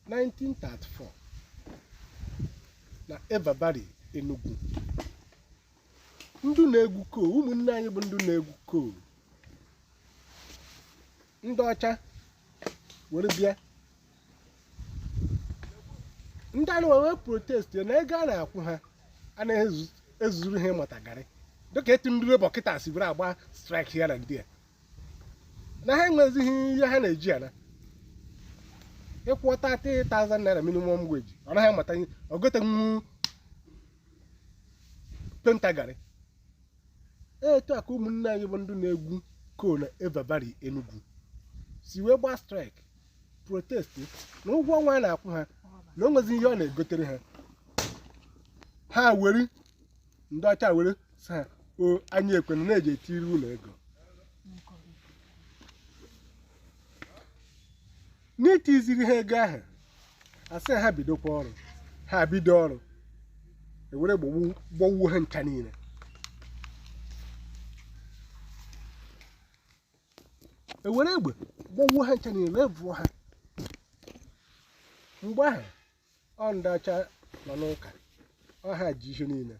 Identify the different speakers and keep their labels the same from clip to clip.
Speaker 1: 1934 na Iva Valley Enugu ndị na-egwu coal ụmụnne anyị bụ ndị na-egwu coal ndị ọcha were bịa ndị anụwa wee protest na ego a na-akwụ ha anaghị ezu- ezuru ha imeta garị dịka etu ndị Labour kịta si were agba strike here and there na ha enwezighị ihe ha na-eji ana ị kwụọ 30000 naira minimum wage ọ naghị amata ihe ọ gotenwu painter garị etu a ka ụmụnne anyị bụ ndị na-egwu coal na Iva Valley Enugu si wee gbaa strike protest na ụgwọ ọnwa a na-akwụ ha na o nwezi ihe ọ na-egotere ha ha were ndị ọcha were sị ha o anyị ekwena na-eji etiri unu ego n'itiziri ha ego ahụ a sị ha bidokwa ọrụ ha bido ọrụ ewere gbagbu- gbagbuo ha ncha niile ewere egbe gbagbuo ha ncha niile wee vuo ha mgbe ahụ ọ ndị ọcha nọ n'ụka ọ ha ji ihe niile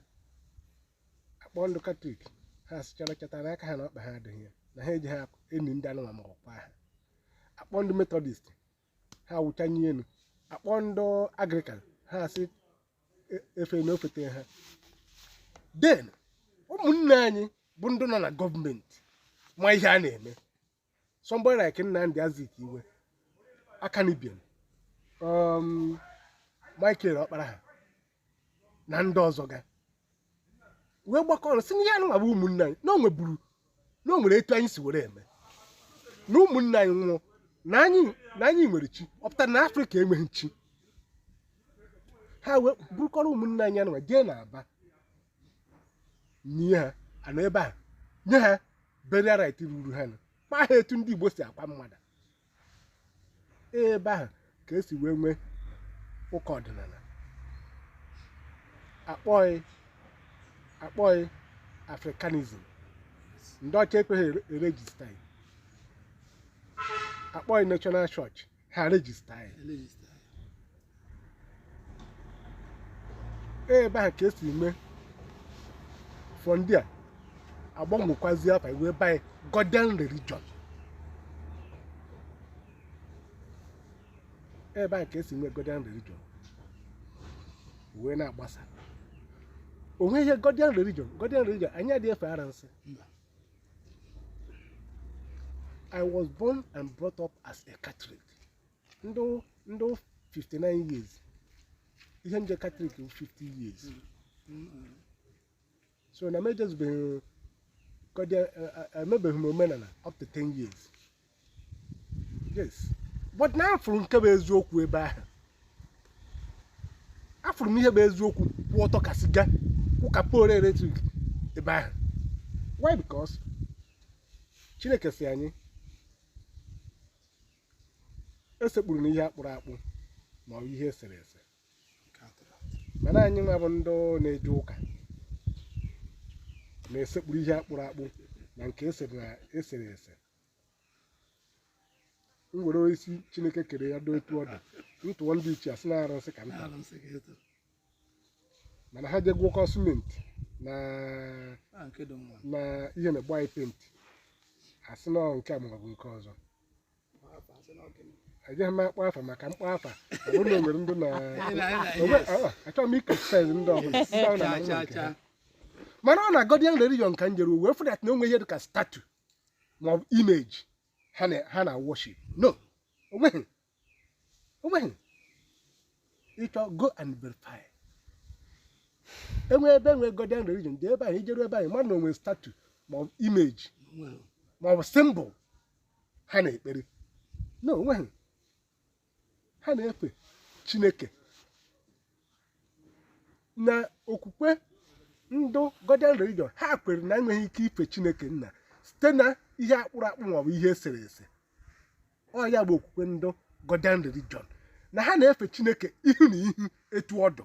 Speaker 1: a kpọọ ndị Katọlik ha sịchara cheta na aka ha na ọkpa ha adịghị ya na ha ejighị eni ndị anụmanụ ma ọkwa ha a kpọọ ndị Metọdist ha wụchanye elu a kpọọ ndị Anglịkan ha asị e- efe na ofete ha then ụmụnne anyị bụ ndị nọ na gọọmenti ma ihe a na-eme somebody like Nnamdi Azikiwe Akanu Ibiam um, Michael Ọkpara ha na ndị ọzọ ga wee gbakọọ ọnụ sị na ihe anụwa bụ ụmụnne anyị na o nweburu na o nwere etu anyị si were eme na ụmụnne anyị nwụọ na anyị na anyị nwere chi ọ pụtara na Afrịka enweghị chi ha wee burukọrọ ụmụnne anyị anụwa jee na Aba nie ha a nọ ebe a nye ha burial rite ruru ha kwaa ha etu ndị Igbo si akwa mmadụ ebe ahụ ka esi wee nwee ụka ọdịnala a kpọọ ya Africanism ndị ọcha ekweghị erejista a kpọọ ya National Church ha rejista ya. ebe ahụ ka esi before ndị a agbanwekwazi afa wee banye Godian religion ebe ahụ ka esi nwee Godian religion wee na-agbasa onwe ihe Godian religion Godian religion anyị adịghị efe arụnsị Mba. I was born and brought up as a Catholic. M dị 59 years. Ihe m je Catholic bụ 50 years. So na m ejezubeghị Godian emebeghị m omenala up to 10 years. yes but na afụrụ nke bụ eziokwu ebe ahụ afụrụ m ihe bụ eziokwu kwụ ọtọ ka siga kwụ ka pole electric ebe ahụ why because chineke sị anyị esekpuruna ihe akpụrụ akpụ ma ọ bụ ihe esere ese mana anyị nwa bụ ndị na-eje ụka na-esekpuru ihe akpụrụ akpụ na nke esere ese m were isi chineke kere ya doo etu ọ dị m tụọ ndị ichie asị na arụsị ka m tara arụsị ka eto mana ha je gwọkọ simenti na a nke dị mma na ihe na-egbu anyị penti asị na ọ nke a maọbụ nke ọzọ ejeghị m akpọ afa maka m kpọọ afa ọ bụrụ na o nwere ndị na Anyị na- anyị na- Onwe- yes. ah, achọghị m ị-criticize ndị ọbụla ndị ahụ na-ama Cha, cha, nke ha. cha. mana ọ na Godian religion ka m jere wee fụ that na o nwe ihe dị ka statue ma ọ bụ image ha na-worship no onweghị onweghị ị chọọ go and verify enwe ebe enwe Godian religion dị ebe ahụ i jeru ebe ahụ mmadụ na o nwe statue ma ọ bụ image ma ọ bụ symbol ha na-ekpere no onweghị ha na-efe chineke na okwukwe ndụ Godian religion ha kwere na enweghị ike ife chineke nna site na ihe akpụrụ akpụ maọbụ ihe esere ese ọ ya bụ okwukwe ndụ Godian religion na ha na-efe chineke ihu na ihu etu ọ dụ